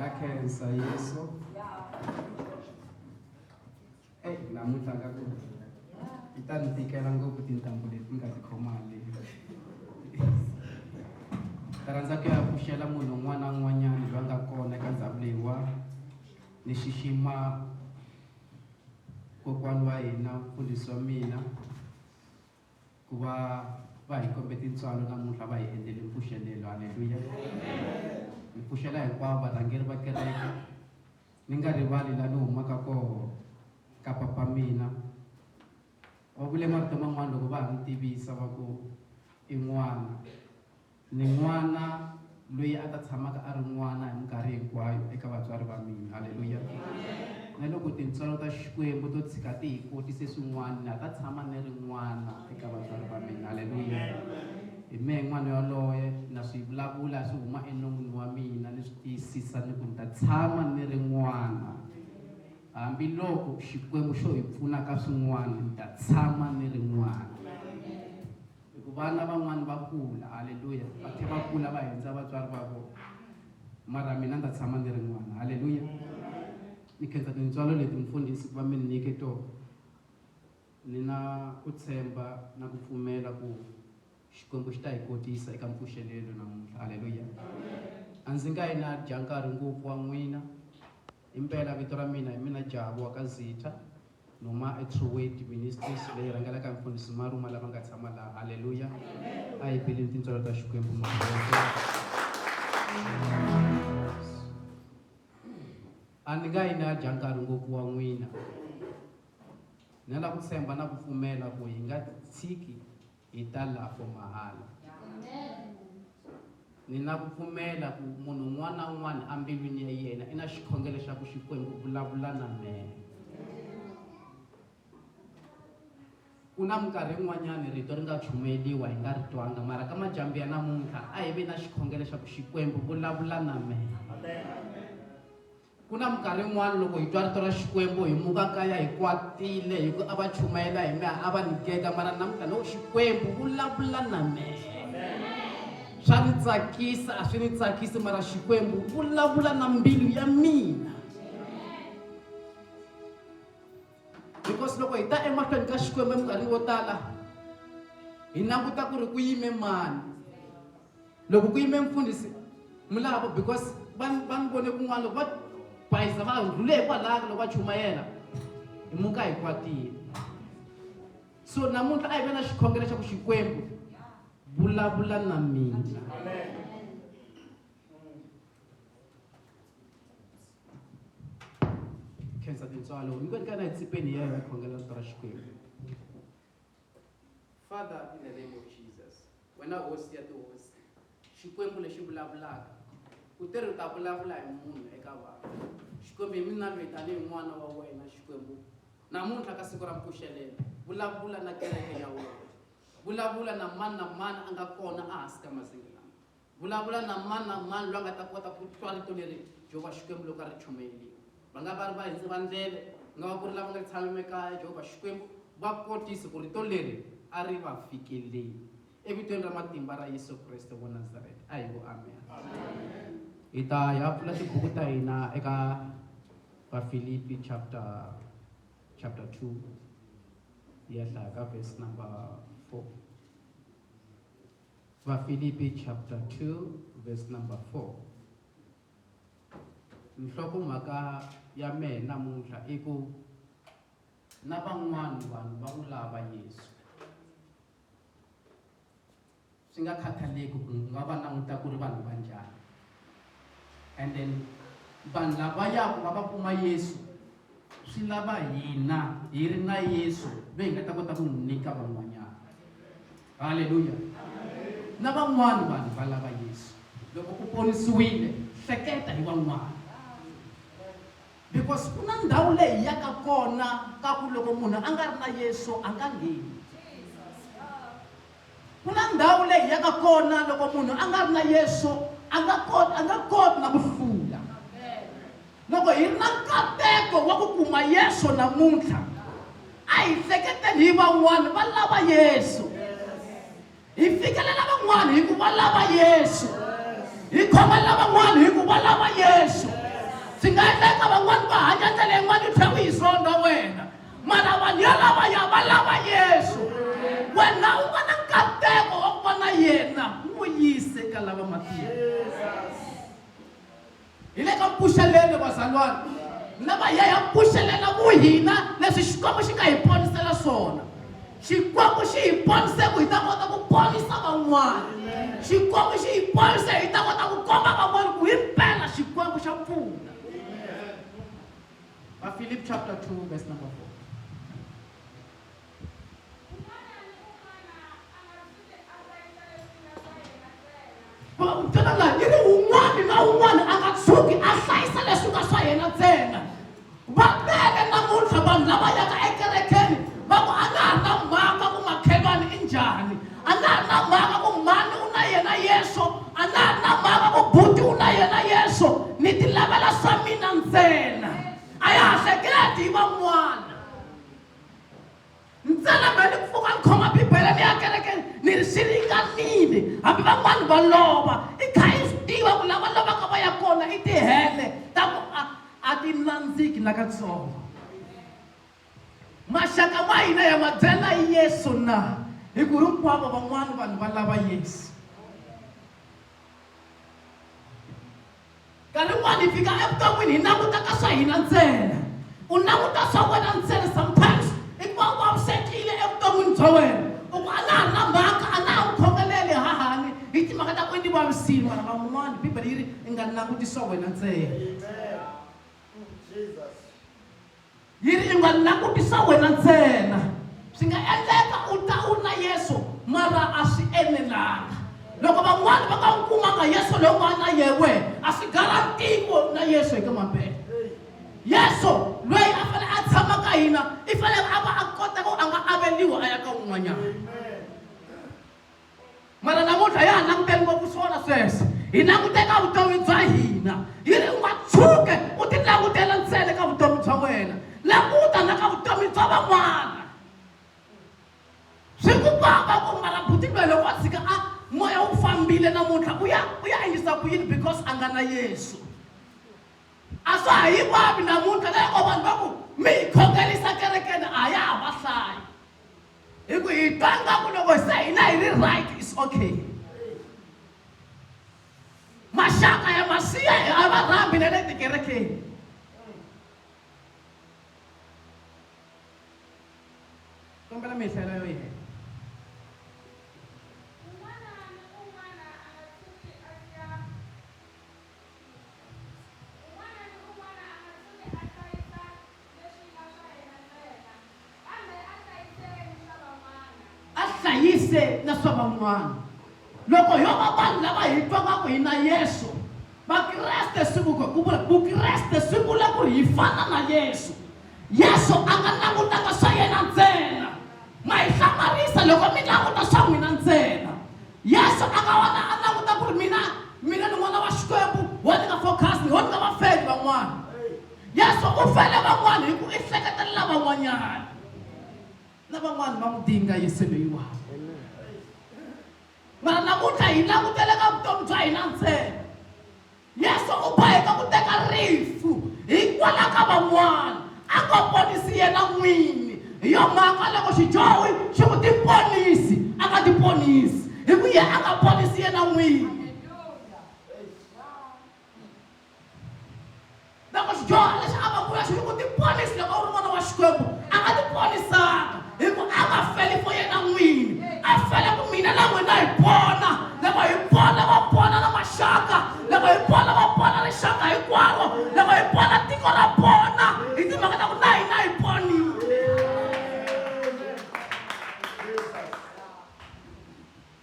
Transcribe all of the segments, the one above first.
yakensa yesu eyi namuntlha nga ku yi ta ni tikela ngopfu tintambu leti nga ti khomali ta rhandza ku ya pfuxela munhu un'wana na un'wanyana loyi a nga kona eka ndhawu leyiwa ni xixima kokwani wa hina mfundhisi wa mina Ku va va hi kombe tintswalo namuntlha va hi endlele mpfuxelelo. Haleluya! Ni pfuxela hinkwavo varhangeri va kereke, ni nga rivali laha ni humaka koho ka papa mina. Va vule marito man'wana loko va ha ni tivisa va ku i n'wana. Ni n'wana loyi a ta tshamaka a ri n'wana hi minkarhi hinkwayo eka vatswari va mina. Haleluya! Na loko tintswalo ta Xikwembu to tshika ti hi kotise swin'wana, na ha ta tshama ni ri n'wana eka vatswari va mina. Haleluya! Hi mehe n'wana yoloye, na swi vulavula swi huma enon'wini wa mina, ni swi tiyisisa ni ku ni ta tshama ni ri n'wana. Hambiloko Xikwembu xo hi pfuna ka swin'wana, ni ta tshama ni ri n'wana. hi ku vana van'wana va kula halleluya va tlhe va kula va hundza vatswari va vona mara mina ndza tshama ni ri n'wana halleluya ni khensa tintswalo leti mfundhisi ku va mi ni nyike tona ni na ku tshemba na ku pfumela ku xikwembu xi ta hi kotisa eka mpfuxelelo namuntlha halleluya a ndzi nga yi na dya nkarhi ngopfu wa n'wina impela vito ra mina hi mina jabu wa ka zitha Noma Truweti Ministries leyi rhangelaka hi Mfundhisi Maruma lava nga tshama laha. Haleluya! A hi beleni tintswalo ta Xikwembu A ni nga yi ni ya dya nkarhi ngopfu wa n'wina. Ni la ku tshemba na ku pfumela ku hi nga tshiki Hi ta la for mahala. Ni na ku pfumela ku munhu un'wana na un'wana embilwini ya yena i na xikhongelo xa ku Xikwembu vulavula na mina. ku na minkarhi yin'wanyani rito ri nga chumeliwa hi nga ri twanga mara ka majambi ya namuntlha a hi ve na xikhongelo xa ku xikwembu vulavula na mehe Ku na minkarhi yin'wana loko hi twa rito ra Xikwembu hi muka kaya hi kwatile hi ku a va chumayela hi mehe a va ni gega mara namuntlha no Xikwembu vulavula na mehe swa ni tsakisa a swi ni tsakisi mara Xikwembu vulavula na mbilu ya mina because loko hi ta emahlweni ka Xikwembu eminkarhini wo tala hi languta ku ri ku yime mani loko ku yime mfundhisi mulavo because va ni vone kun'wana loko va bayisa va rhule hi kwalaka loko va chumayela hi muka hi kwatile so namuntlha a hi ve na xikhongelo xa ku xikwembu vulavula na mina khensa tintswalo hinkwenu ka na hi tsipeni ya hi khongela vito ra xikwembu Father in the name of Jesus wena hosi ya tihosi xikwembu lexi vulavulaka u te ri ta vulavula hi munhu eka vanhu xikwembu hi mina lweyi tanihi n'wana wa wena xikwembu namuntlha ka siku ra mpfuxelelo vulavula na kereke ya wena vulavula na mani na mani a nga kona a hansi ka mazinga Vulavula na mani na mani loyi a nga ta kota ku twa rito leri Jehovha Xikwembu loko a ri chomerile. Va nga va ri vahindzi va ndleve, ku nga va ku ri lava nga tshamela ekaya. Jehovha Xikwembu va kotise ku rito leri a ri va fikeleli. Evitweni ra matimba ra Yesu Kreste wa Nazareta, a hi ku amena. Hi ta ya pfula tibuku ta hina eka Vafilipi chapter chapter 2 hi ya hlaya ka verse number 4. Vafilipi chapter 2 verse number 4. Nhlokomhaka ya mehe namuntlha i ku na van'wana vanhu va n'wi lava Yesu. Swi nga khathaleki ku nga va languta ku ri vanhu va njhani. and then vanhu lava yaku va va kuma yesu swi lava hina hi ri na yesu ve hi nga ta kota ku n'wi nyika van'wanyana halleluya na van'wana vanhu va lava yesu loko u ponisiwile hleketa hi van'wana because ku na ndhawu leyi yaka kona ka ku loko munhu a nga ri na yesu a nga ngheni Ku na ndhawu leyi hi yaka kona loko munhu a nga ri na Yesu a nga koti a nga koti na ku hlula. Loko hi ri na nkateko wa ku kuma Yesu namuntlha, a hi hleketeni hi van'wana va lava Yesu. Hi fikelela van'wana hi ku va lava Yesu. Hi khomelela van'wana hi ku va lava Yesu. Swi nga endleka van'wana va hanya ndlela yin'wana yi tlhela yi zonda wena. mara vanhu yalavaya va lava yesu wena u va na nkateko wa ku va na yena u n'wi yise ka lava matiko hi le ka mpfuxelelo vazalwana lava ya ya mpfuxelela ku hina leswi xikwembu xi nga hi ponisela swona xikwembu xi hi ponise ku hi ta kota ku ponisa van'wana xikwembu xi hi ponise hi ta kota ku komba van'wana ku hi mpela xikwembu xa pfuna Bafilip chapter 2 verse number 4. tana laha yi ri un'wana na un'wana a nga tshuki a hlayisa leswi nga swa yena ntsena va tele namuntlha vanhu lava yaka ekerekeni va ku a nga ha na mhaka ku makhelwani i njhani a nga ha ri na mhaka ku mhani u na yena yeso a nga ha ri na mhaka ku buti u na yena yeso ni ti lavela swa mina ntsena a ya ha hleketi hi van'wana ntsena me ni pfuka ni khoma bibele ni ya kereke ni ri swi ringanile hambi van'wana va lova i kha i swi tiva ku lava lovaka va ya kona i tihele ta ku a a ti nandziki nakatsongo Maxaka ma hina ya ma byela Yesu na? Hi ku hinkwavo van'wana vanhu va lava Yesu. Nkarhi wun'wana hi fika evuton'wini hi languta ka swa hina ntsena. U languta swa wena ntsena sometimes i ku va u vavisekile evuton'wini bya wena. U ku a na ha ri na mhaka, a na ha n'wi khomeleli hahani hi timhaka ta ku i ni vavisile mara van'wana Bibele yi ri i nga languti swa wena ntsena. Yini yi nga langutisa wena ntsena? Swi nga endleka u ta u na Yesu mara a swi enelanga. Loko van'wana va nga n'wi kumanga Yesu loyi u nga na yewe a swi garantiko na Yesu eka mabele. Yesu loyi a fanele a tshama ka hina i fanele a va a kota ku a nga aveliwa a ya ka un'wanyana. mara namuntlha ya ha languteli ngopfu swona sweswo hi langute ka vutomi bya hina yi ri u nga tshuke u ti langutela ntsele ka vutomi bya wena languta na ka vutomi bya van'wana swi ku pamba ku mara buti loyi loko a tshika a moya wu fambile namuntlha u ya u ya yisa ku yini because a nga na yesu a swa ha yi vavi namuntlha loko vanhu va ku mi yi khongelisa kerekeni a ya ha va hlayi hi ku hi twa nga ku loko se hina hi ri right is okay maxaka ya masiya a va rhambi na le tikerekeni kombela mi hlela yo yena leswi nga swa yena ntsena, kambe a hlayiseke ni swa van'wana. A hlayise na swa van'wana. Loko yo va vanhu lava hi twa nga ku hi na Yesu, Vakreste swi vu- ku vula Vukreste swi vula ku ri hi fana na Yesu. Yesu a nga langutanga swa yena ntsena. Ma hi hlamarisa loko mi languta swa n'wina ntsena. Yesu a nga wona a languta ku ri mina mina ni n'wana wa Xikwembu, wo ni nga focus, wo ni nga vafeli van'wana. yesu u fela van'wana hi ku i seketelela van'wanyana lavan'wana va n'wi dinga yesu loyiwani mara namuntlha hi langutele ka vutomi bya hina ntsena yesu u boheka ku teka rifu hikwala ka van'wana a ko ponisi yena n'wini hi yo mhaka loko xidyohi xi ku tiponisi a nga tiponisi hi ku ye a nga ponisi yena n'wini loko xidyuhari lexi a va kula xi ri ku tiponisi loko u ri n'wana wa xikwembu a nga tiponisanga hi ku a nga feli fo yena n'wini a fele ku mina na n'wina hi pona loko hi pona va pona na maxaka loko hi pona va pona rixaka hinkwaro loko hi pona tiko ra pona hi timhaka ta ku na hina hi ponile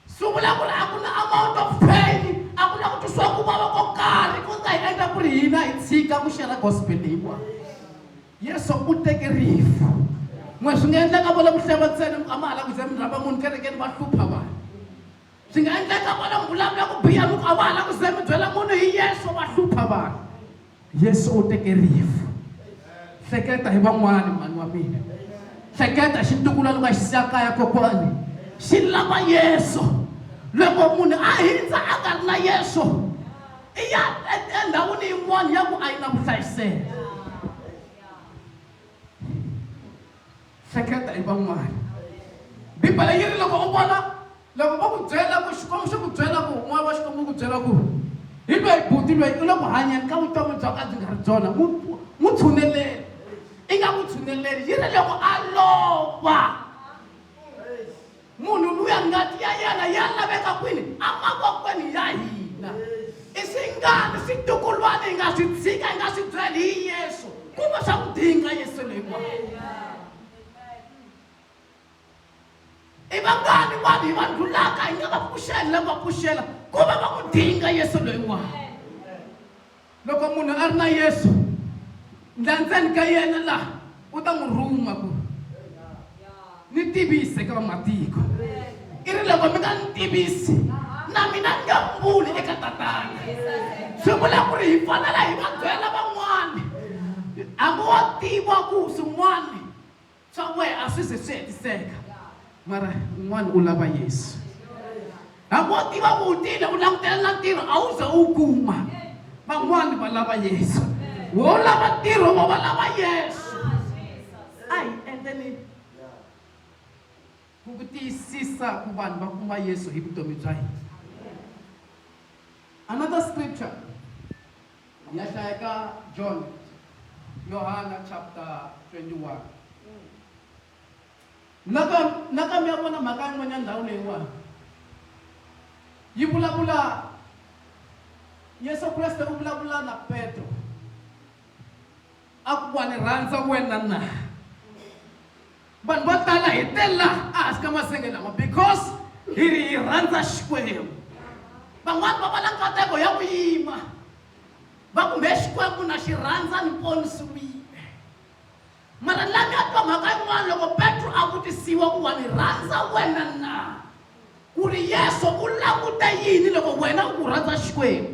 sungula ku ri a ku na amount of pain a ku na ku twisiwa ku vava ko karhi ku nga hi endla ku ri hina hi tshika ku xera gospel leyiwa yesu u teke rifu n'we swi nga endlaka vona ku hleva ntsena a ma ha la ku ze mi rhamba munhu kerekeni va hlupha vanhu swi nga endlaka vona ku vulavula ku biha mi ku a va ha la ku ze mi byela munhu hi yesu va hlupha vanhu yesu u teke rifu hleketa hi van'wana mhani wa mina hleketa xi ntukula loko a xi siya kaya kokwani xi lava yesu loko munhu a hindza a nga ri na yesu i ya endhawini yin'wana ya ku a yi na vuhlayiseki hleketa hi van'wana bibele yi ri loko u vona Loko va ku byela ku Xikwembu xi ku byela ku moya wa Xikwembu wu ku byela ku hi loyi buti loyi u le ku hanyeni ka vutomi bya ka byi nga ri byona n'wi tshuneleli i nga n'wi tshuneleli yi ri loko a lova munhu luya ngati ya yena ya laveka kwini emakokweni ya hina i swingani switukulwana hi nga swi tshika hi nga swi byeli hi yesu kumbe swa ku dinga yesu leyiwa i vangani vanhu hi va ndlulaka hi nga va pfuxela na va pfuxela ku va va ku dinga yesu loyiwani loko munhu a ri na yesu ndlandzeni ka yena laha u ta n'wi rhuma ku ni tivise ka vamatiko i ri loko mi nga ni tivisi na mina ni nga mbuli eka tatana swi vula ku ri hi fanela hi va byela van'wani hambi wa tiva ku swin'wani Swa wehe a swi ze swi hetiseka mara un'wana u lava yesu hambi wo tiva ku u tile u langutela na ntirho a wu ze u wu kuma van'wani va lava yesu wo lava ntirho wo va lava yesu a hi endleni ku ku tiyisisa ku vanhu va kuma yesu hi vutomi bya hina another scripture Hi ya hlaya ka John, Yohana chapter 21. Nakambe naka mi ya vona mhaka yin'wanyana ndhawu leyiwani yi vulavula Yesu Kreste u vulavula na Petro a ku wa ni rhandza wena na vanhu vo tala hi te laha a hansi ka masenge lama because hi ri hi rhandza xikwembu van'wani va va na nkateko ya ku yima va kumbe xikwembu na xi rhandza ni ponisiwile mara la mi a twa mhaka yin'wana loko petro a vutisiwa ku wa ni rhandza wena na ku ri yesu u languta yini loko wena u ku rhandza xikwembu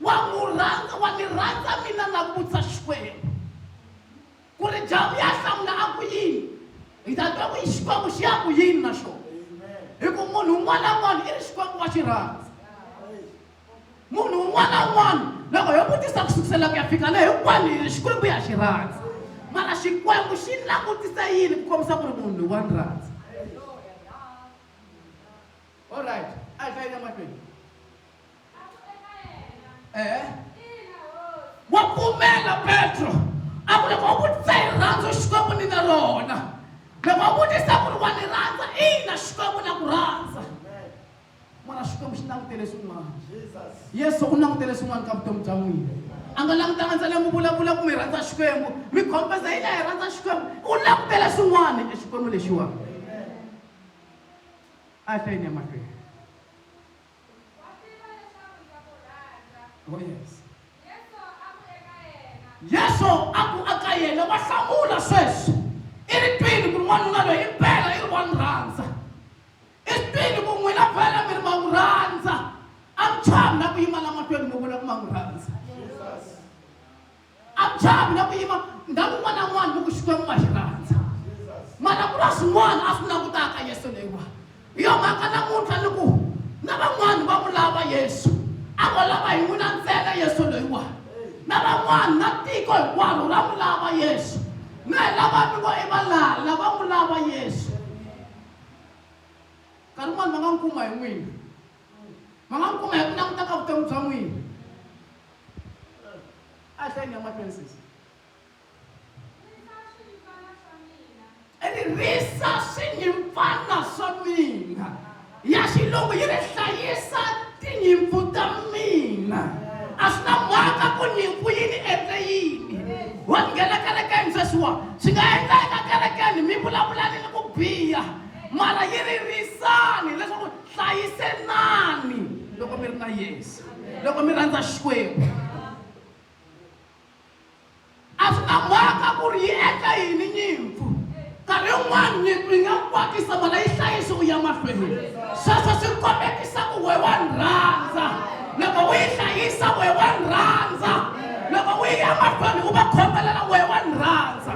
wa n'wi rhandza wa ni rhandza mina na vutsa xikwembu ku ri jamu ya hlamula a ku yini hi ta twa ku yi xikwembu xi ya ku yini na xona hi ku munhu un'wana na un'wana i ri xikwembu wa xi rhandza munhu un'wana na un'wana loko yo vutisa ku sukisela ku ya fika le hinkwani hi ri xikwembu ya xi rhandza mara xikwembu xi langutisa yini ku kombisa ku ri munhu loyi wa ni rhandza olright a hi hlayile mahlweni eh wa pfumela petro a ku loko u vutisa hi rhandzu xikwembu ni na rona loko u vutisa ku ri wa ni rhandza ina xikwembu na ku rhandza mara xikwembu xi langutele swin'wana yesu u langutele swin'wana ka vutomi bya n'wina a nga langutanga ntsena mi vulavula ku mi rhandza xikwembu mi khompeza yi la hi rhandza xikwembu u langutele swin'wana exikwembu lexiwani a hlayini ya mahlweni Wa swi tiva leswaku ndza ku rhandza. Oh yes. Yesu a ku eka yena. Yesu a ku eka yena wa hlamula sweswi. I ri twini ku ri n'wanuna loyi impela i ri wa n'wi rhandza. I ri twini ku n'wina vhela mi ri ma n'wi rhandza. A mi chavi na ku yima la matweni mi vula ku ma n'wi rhandza. abzavi na ku yima ndhawu un'wana na un'wana loko xikwembu nga xi rhandza mara ku na swin'wana a swi langutaka yesu leyiwa hi yo mhaka namuntlha ni ku na van'wana va n'wi lava yesu a ngo lava hi n'wina ntsena yesu loyiwa na van'wana na tiko hinkwaro ra n'wi lava yesu mi hi lava mi ngo i valala va n'wi lava yesu nkarhi un'wana va nga n'wi kuma hi n'wina ma nga n'wi kuma hi ku languta ka vutomi bya n'wina a hlayini ya mahlweni sisi ririsa swinyimpfana swa mina ya xilungu yi ri hlayisa tinyimpfu ta mina a swi na mhaka ku nyimpfu yi ni endle yini wa nghena kerekeni sweswiwa swi nga endleka kerekeni mi vulavulani ni ku biha mara yi ri risani leswaku hlayiselani loko mi ri na yesu loko mi rhandza xikwembu a swi ta mhaka ku ri yi endla yini nyimpfu nkarhi wun'wana nyimpfu yi nga kwatisa mala yi hlayisi u ya mahlweni sweswo swi kombekisa ku we wa ni rhandza loko u yi hlayisa we wa ni rhandza loko u yi ya mahlweni u va khombelela we wa ni rhandza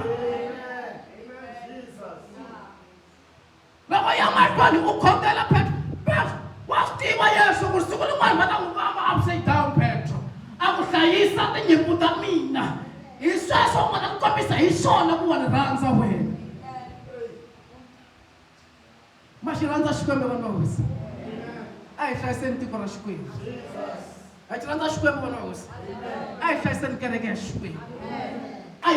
Loko ya mahlweni u khongela Petro, Petro, wa swi tiva Yesu ku siku rin'wana va ta n'wi vamba upside down Petro, a ku hlayisa tinyimpfu ta mina. Hi sweswo u nga ta kombisa hi swona ku wa ni rhandza wena. Ma xi rhandza Xikwembu vana va hosi. A hi hlayiseni tiko ra Xikwembu. a ti rhandza xikwembu vana vahosi a hi hlayiseni kereke ya xikwembu a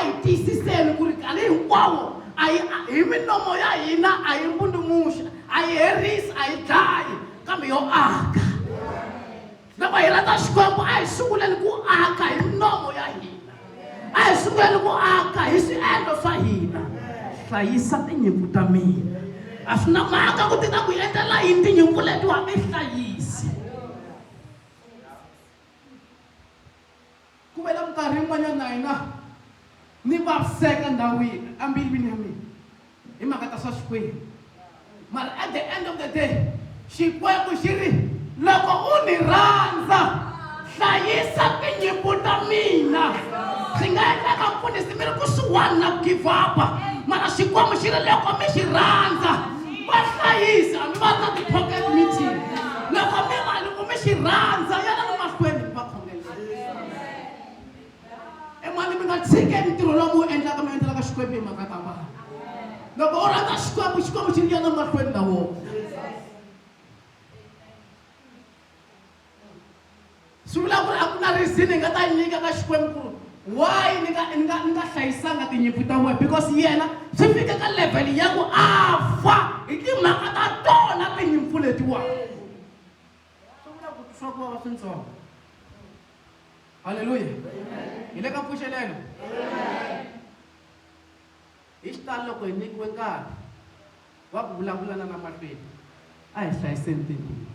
hi tiyisiseni ku ri nkarhi hinkwawo a yi hi minomo ya hina a yi mbundumuxa a yi herisi a yi dlayi kambe yo aka loko hi rhandza xikwembu a hi sunguleni ku aka hi minomo ya hina a hi sunguleni ku aka hi swiendlo swa hina hlayisa tinyimpfu ta mina a swi na mhaka ku ti ta ku endlela yini tinyimpfu leti wa ti hlayisi ku vela minkarhi yin'wanyana na hina ni vaviseka ndhawini ambilwini ya mina hi mhaka ta swa xikwembu mara at the end of the day xikwembu xi ri loko u ni rhandza hlayisa tinyimpi ta mina swi nga endlaka mpfunisi mi ri kusuwani na ku give up mara xikwembu xi ri loko mi xi rhandza va hlayisa mi va ri na ti-pocket meeting loko mi va loko mi xi rhandza yana ni mahlweni mi va khongelela emani mi nga tshikeli ntirho lowu mi wu endlaka mi endlelaka xikwembu hi mhaka ta vanhu loko u rhandza xikwembu xikwembu xi ya na mahlweni na wona swi vula ku ri a ku na reason hi nga ta yi nyika ka xikwembu ku ri why ni nga ni nga ni nga hlayisanga tinyimpfu ta wena because yena swi fika ka level ya ku a fa hi timhaka ta tona tinyimpfu letiwani swi vula ku tisa ku vava swintsongo halleluya hi le ka mpfuxelelo hi xitalo loko hi nyikiwe nkarhi wa ku vulavula na namahlweni a hi hlayiseni timbilu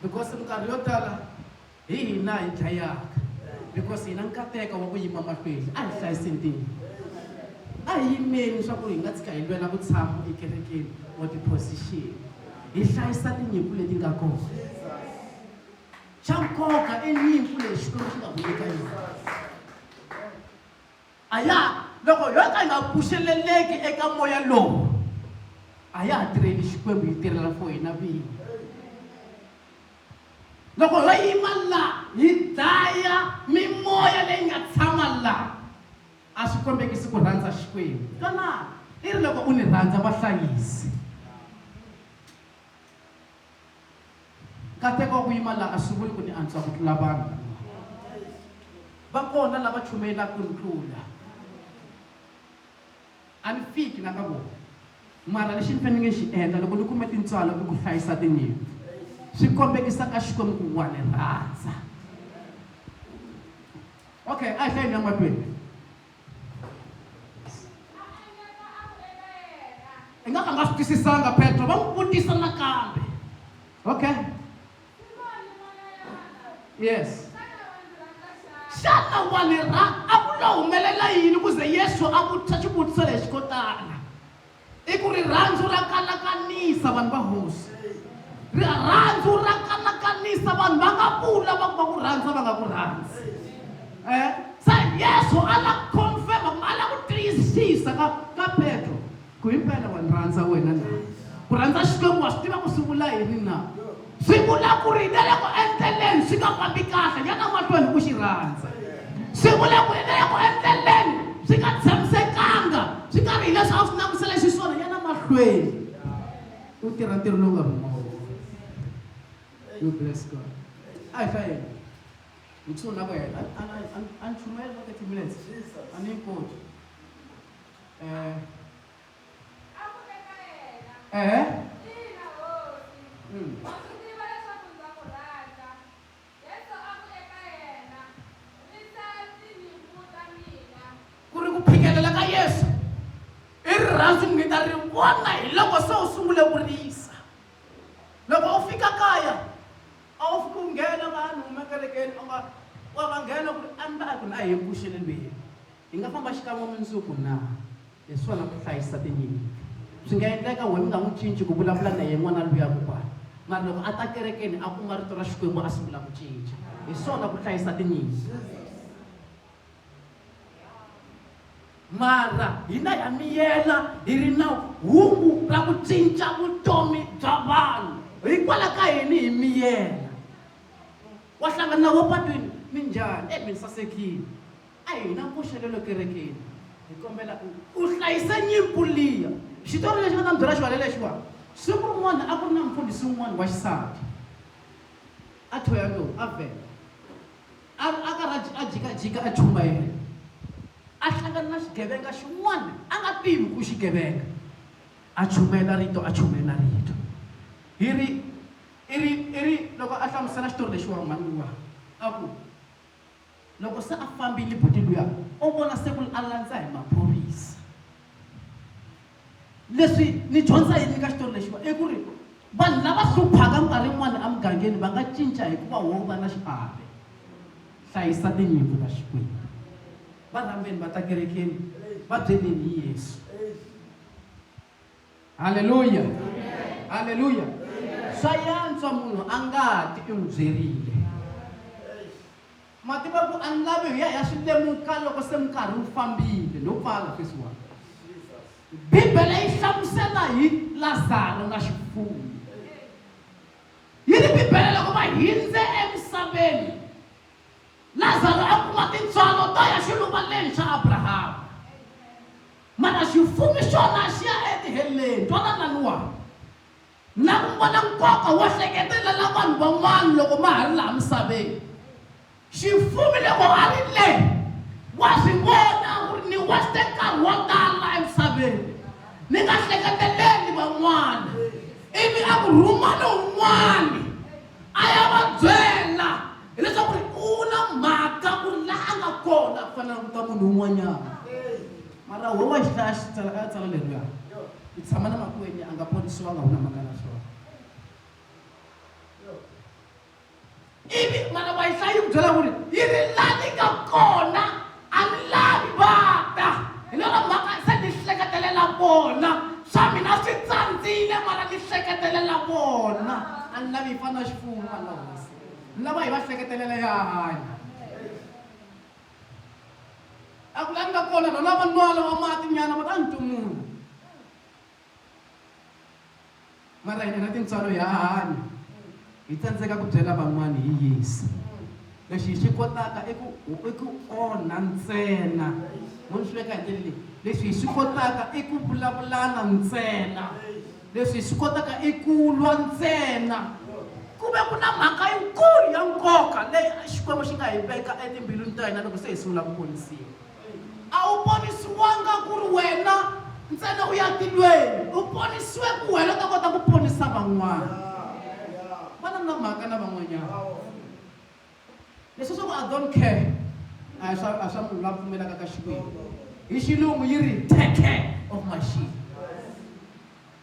because minkarhi yo tala Hi hina hi dlayaka because hi na nkateko wa ku yima mahlweni. A hi hlayise ntima. A hi yimeni swa ku hi nga tshika hi lwela vutshamo ekerekeni or ti-position. Hi hlayisa tinyimpfu leti nga kona. Xa nkoka i nyimpfu leyi Xikwembu xi nga ku nyika yona. A ya loko yo ka yi nga pfuxeleleki eka moya lowu a ya ha tirheli Xikwembu yi tirhela for hina vinyi. loko ho yima laha hi dlaya mimoya leyi nga tshama laha a swi kombekisi ku rhandza xikwembu kana i ri loko u ni rhandza vahlayisi nkateko wa ku yima laha a swi vuli ku ni antswa ku tlula vanhu va kona lava chumayelaka ku ni tlula A ni fiki la ka vona, mara lexi ni fanele ni xi endla loko ni kume tintswalo i ku hlayisa tinyimpfu. Swi kombekisa ka Xikwembu ku wa ni rhandza. Okay, a hi hlayeni ya matweni. I nga ka nga swi twisisanga Petro va n'wi vutisa nakambe. Okay. yes xana wa ni ra a ku lo humelela yini ku ze yesu a vutisa xivutiso lexi ko tala i ku rirhandzu ra kanakanisa vanhu va hosi rirhandzu ra kanakanisa vanhu va nga vula va ku va ku rhandza va nga ku rhandzi um eh? se yesu a la confirma kumbe a la ku tiyisisa ka ka petro Ku himpela wa ni rhandza wena na? Ku rhandza Xikwembu wa swi tiva ku swi vula yini na? Swi vula ku ri na loko endleleni swi nga fambi kahle ya na mahlweni ku xi rhandza. Swi vula ku ri na loko endleleni swi nga tshamisekanga swi nga ri hileswi a swi langutisele xiswona ya na mahlweni u tirha ntirho lowu nga rhumiwa you bless God a hi fayeni nchumu na ku hela a ni chumela ka 30 minutes a ni yi koti Eh. Eh? Mm. ku ri ku phikelela ka yesu i rirhandzu mi ta ri vona hi loko se u sungule ku risa loko u fika kaya a wu fiki u nghena vanhu umekerekeni u nga wa va nghena ku ri a ni ta a ku ni a hi vuxelelweni Hi nga famba xikan'we mundzuku na? Hi swona ku hlayisa tinyimpfu. Swi nga endleka why mi nga n'wi cinci ku vulavula na yena n'wana luya kokwani. Mara loko a ta kerekeni a kuma rito ra Xikwembu a sungula ku cinca. Hi swona ku hlayisa tinyimpfu. Mara hina ha miyela hi ri na hungu ra ku cinca vutomi bya vanhu. Hikwalaho ka yini hi miyela? Wa hlangana na wo patwini, minjhani? E mi sasekile. A hi na nkoxakelo ekerekeni. Hi kombela u u hlayisa nyimpfu liya. Xitori lexi ni nga ta mi byela xona hi lexiwa, Siku rin'wana a ku ri na mufundhisi un'wana wa xisati. A thyoya lowu a vheta. A ri a karhi a a jikajika a chumayela, a hlangana na xigevenga xin'wana a nga tivi ku i xigevenga. A chumayela rito, a chumayela rito. Hi ri i ri i ri loko a hlamusela xitori lexiwa mhani luwa a ku, Loko se a fambile buti luya u vona se ku a landza hi maphorisa leswi ni dyondza yini ka xitori lexiwa i ku ri vanhu lava hluphaka nkarhi yin'wana emugangeni va nga cinca hikuva wo va na xiave hlayisa tinyimpi ta xikwembu va rhambeni va ta kerekeni va byeleni hi yesu halleluya halleluya swa yantswa munhu a nga ti i n'wi byerile mativa ku a ni lavi hi ya ya swi lemuka loko se minkarhi wu fambile no pfala sweswiwani bibele yi hlamusela hi lazaro na xifuwo yi ri bibele loko va hindze emisaveni lazaro a kuma tintswalo to ya xiluva leni xa abrahama Mana xifumi xona xi ya etiheleni. Twananani wani. Na ku vona nkoka wo hleketelela vanhu van'wana loko ma ha ri laha misaveni. Xifumi loko a ri le, wa swi vona ku ri ni weste nkarhi wo tala emisaveni ni nga hleketeleli van'wana ivi a ku rhuma lowun'wana. a ya va byela hileswaku ri u na mhaka ku ri laha a nga kona ku fanele ku ta munhu un'wanyana mara wo wa xihlaya xi tsala ka tsala leriya ku tshama na makweni a nga ponisiwanga wu na mhaka na swona ivi mana wa yi hlayi ku byela ku ri yi ri la ni nga kona A mi lavi va ta, hi lero mhaka se ni hleketelela vona. Swa mina swi tsandzile, mara ni hleketelela vona. A ni lavi hi fana xifuwo vanhu va Hosi, ni lava hi va hleketelela ya hanya. A ku la ni nga kona rona va nwa lowa mati nyana va ta ni tumula. mara hina tintswalo hi hahani hi tsandzeka ku byela van'wana hi yesu lexi hi xi kotaka i ku i ku onha ntsena mo ni swi veka hi ndlela leyi lexi hi swi kotaka i ku vulavulana ntsena leswi hi swi kotaka i ku lwa ntsena ku ve ku na mhaka yikulu ya nkoka leyi xikwembu xi nga hi veka etimbilwini ta hina loko se hi sungula ku ponisiwa a wu ponisiwanga ku ri wena ntsena u ya tilweni u ponisiwe ku wena u ta kota ku ponisa van'wana vana na mhaka na van'wanyana leswi swa ku i don't care a hi swa a swa munhu la pfumelaka ka xikwembu hi xilungu yi ri take care of my sheep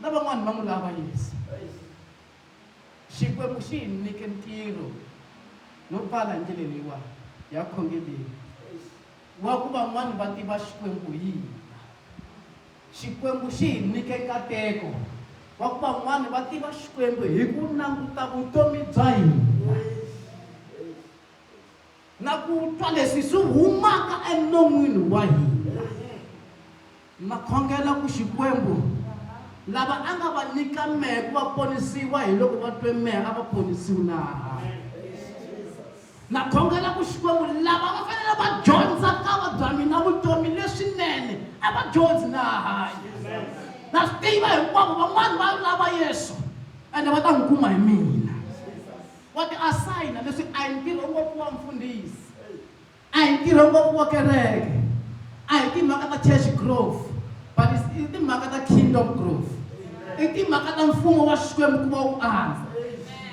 na van'wana va n'wi lava yesu xikwembu xi hi nyike ntirho no pfala hi ndlela leyiwani ya khongeleni wa ku van'wana va tiva xikwembu hi hina xikwembu xi hi nyike nkateko wa ku van'wana va tiva xikwembu hi ku languta vutomi bya hina na ku twa leswi swi humaka enon'wini wa hina na khongela ku xikwembu lava a nga va nyika mehe ku va ponisiwa hi loko va twe mehe a va ponisiwi na na khongela ku xikwembu lava va fanele va dyondza ka va bya mina vutomi leswinene a va dyondzi na hanya na swi tiva hinkwavo van'wani va lava yesu ende va ta n'wi kuma hi mina wa ti asayina leswi a hi ntirho ngopfu wa mfundhisi a hi ntirho ngopfu wa kereke a hi timhaka ta church grove but i timhaka ta kingdom grove i timhaka ta mfumo wa xikwembu ku va wu andza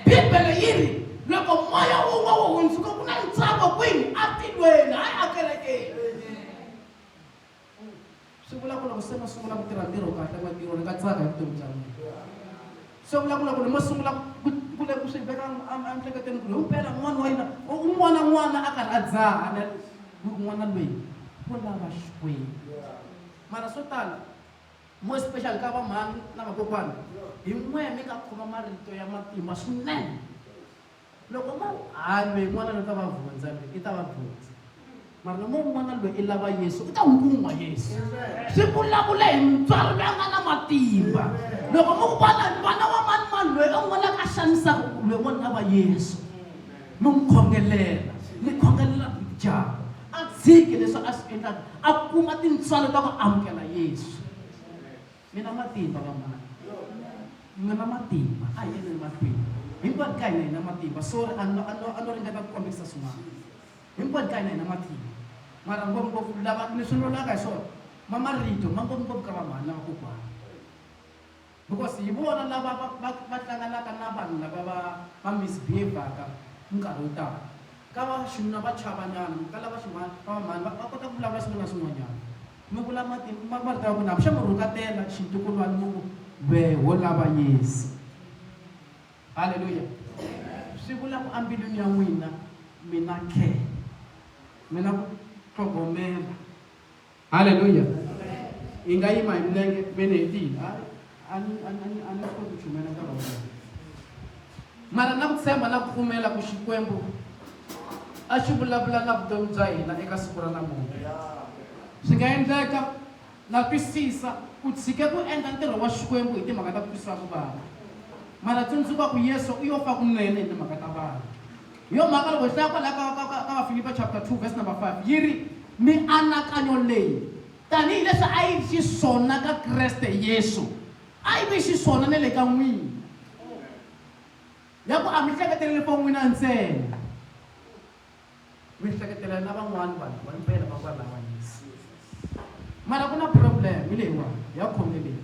bibele yi ri loko moya wun'we wu hundzuka ku na ntsako kwini a tilweni hayi a kerekeni Swi vula ku loko se ma sungula ku tirha ntirho kahle matirho ni nga tsaka hi vutomi bya mina. Swi vula ku loko ni mo sungula ku ku le ku swi veka emiehleketweni ku hi mpela n'wana wa yena un'wana na n'wana a karhi a dzaha na n'wana loyi ku lava Xikwembu. Mara swo tala more special ka vamhani na vakokwana hi n'we mi nga khoma marito ya matimba swinene. Loko mo ha lwe n'wana lo ta va vundza lwe i ta va vundza. Mara no mo n'wana lwe i lava Yesu u ta wu kun'wa Yesu. Swi vulavula hi mutswari loyi a nga na matimba. Loko mo ku vona n'wana wa mani mani lwe u n'wi laka xanisaka lwe n'wana lava Yesu. Mi n'wi khongelela mi khongelela dyaka a tshiki leswi a swi endlaka a kuma tintswalo ta ku amukela Yesu. mi na matimba vanghana mi na matimba a hi endleni matimba hinkwani ka hina hi na matimba sorry a no ringeta ku kombisa swin'wana hinkwani ka hina hi na matimba mara ngopfungopfu lava ni swi lulaka hi swona ma marito ma ngopfungopfu ka vamhani lava kokwana because hi vona lava va hlanganaka na vanhu lava va va misbehavaka nkarhi wo tala ka va xinuna va chavanyana ka lava xin'wana va vamhani va kota ku vulavula swin'wana na swin'wanyana Mi kula mati ma marito ya vunhamu, xa mi rhukatela xintukulwani mi ku, Wehe wo lava Yesu. Haleluya! Swi vula ku ambilwini ya n'wina mi na care, mi na ku tlhogomela. Haleluya! Hi nga yima hi milenge, ve ni hetile. a ni a ni a ni swi koti ku chumela nkarhi wa mina mara na ku tshemba na ku pfumela ku xikwembu a xi vulavula na vutomi bya hina eka siku ra namuntlha swi nga endleka na twisisa u tshike ku endla ntirho wa xikwembu hi timhaka ta ku twisa ku vava mara tsundzuka ku yesu u yo fa kunene hi timhaka ta vanhu hi yo mhaka loko hi hlaya kwalaha ka vafilipa chapter 2 verse number 5 yi ri mianakanyo leyi Tanihi leswi a yi ri xiswona ka Kreste Yesu, a yi ve xiswona na le ka n'wina. Ya ku a mi hleketeleli vo n'wina ntsena, mi hleketela na van'wana vanhu va mpela va kwalawa Yesu. Mara ku na problem leyiwani ya khongeleni.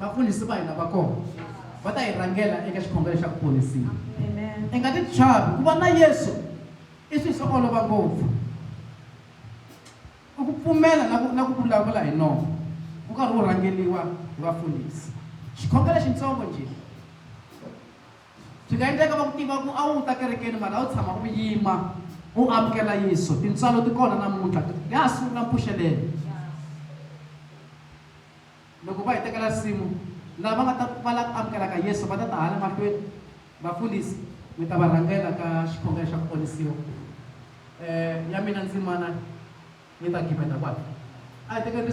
vafundhisi va hina va kona va ta hi rhangela eka xikhongelo xa ku ponisiwa i nga ti chavi ku va na yesu i swilo swo olova ngopfu i ku pfumela na ku na ku vulavula hi nomo ku karhi wu rhangeliwa hi vafundhisi xikhongelo xintsongo njhe swi nga endleka va ku tiva ku a wu ta kerekeni mara a wu tshama u yima u amukela yesu tintswalo ti kona namuntlha ya ha sungula mpfuxelelo Loko va hi tekela risimu, lava nga ta va lava amukelaka Yesu va ta ta hala mahlweni. Vafundhisi, mi ta va rhangela ka xikhongelo xa ku ponisiwa. Um, ya mina ndzimana yi ta gimeta kwala. A hi tekeni risimu.